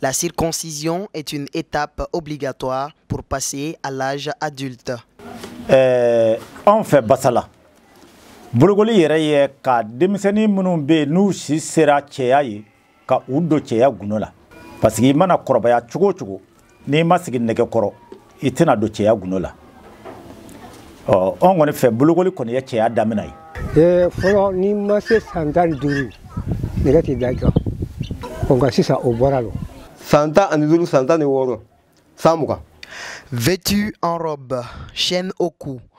La circoncision est une étape obligatoire pour passer à l'âge adulte. Euh, an fɛ Basala, bolokoli yɛrɛ ye ka denmisɛnnin minnu bɛ yen n'u si sera cɛya ye ka u don cɛya gundo la parce que i mana kɔrɔbaya cogo o cogo n'i ma sigi nɛgɛ kɔrɔ i tɛna don cɛya gundo la ɔ anw kɔni fɛ bolokoli kɔni ye cɛya damina ye ee fɔlɔ n'i ma se san tan ni duuru nɛgɛ tɛ da i kan nka sisan o bɔra lo san tan ani duuru san tan ni wɔɔrɔ san mugan vêtu en robe chaîne au cou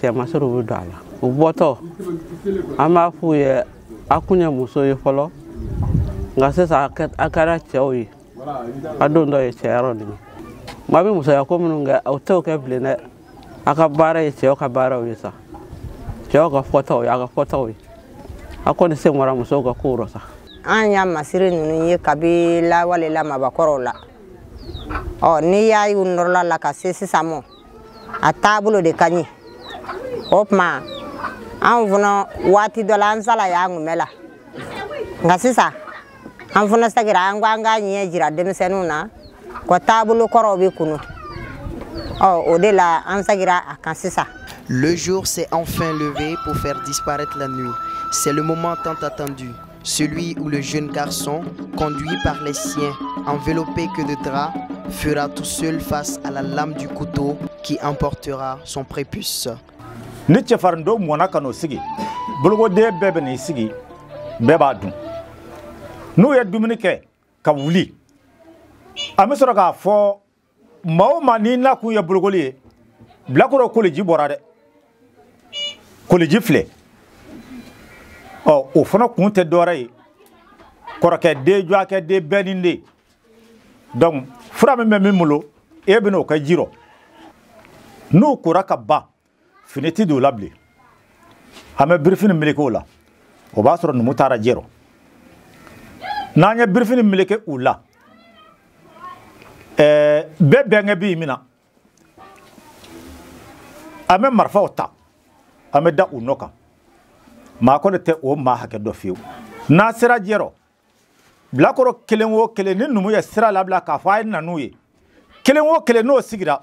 cɛmasiriw bɛ don a la u bɔtɔ an b'a f'u ye a kun ye muso ye fɔlɔ nka sisan a kɛra cɛw ye a dontɔ ye cɛya rɔ nin ye maa bɛ musoya ko minnu kɛ u tɛ u kɛ bilen dɛ a ka baara ye cɛw ka baaraw ye sa cɛw ka fɔtaw ye a ka fɔtaw ye a kɔni sen bɔra musow ka kow rɔ sa an y'a masiri ninnu ye kabi lawale la mabakɔrɔw la ɔ n'i y'a y'u nɔrɔla la ka se sisan mɔ a taabolo de ka ɲi o tuma anw fana waati dɔ la an salayalen kun b'a la nka sisan an fana segira an ko an k'a ɲɛ jira denmisɛnninw na ko taabolo kɔrɔw bɛ kunu ɔ o de la an segira a kan sisan Le jour s'est enfin levé pour faire disparaître la nuit. C'est le moment tant attendu. Celui où le jeune garçon, conduit par les siens, enveloppé que de draps, fera tout seul face à la lame du couteau qui emportera son prépuce. ni cɛfarinto mɔna ka n'o sigi bolokoden bɛɛ bɛ n'i sigi bɛɛ b'a dun n'u ye dumuni kɛ ka wuli an bɛ sɔrɔ k'a fɔ maa o maa n'i nakun ye bolokoli ye bilakoro koliji bɔra dɛ koliji filɛ ɔ o fana kun tɛ dɔwɛrɛ ye kɔrɔkɛ den jɔakɛ den bɛɛ n'i den donc fura min bɛ min bolo e bɛna o kɛ ji rɔ n'u kora ka ban fini tɛ don u la bilen an bɛ birifini meleke u la o b'a sɔrɔ numu taara jɛrɔ n'an ye birifini meleke u la ɛɛ bɛɛ bɛnkɛ b'i mina an bɛ marifaw ta an bɛ da u nɔ kan maa kɔni tɛ o maa hakɛ dɔn fewu n'a sera jɛrɔ bilakoro kelen o kelen ni numu ye sira labila k'a fɔ a ye na n'u ye kelen o kelen n'o sigira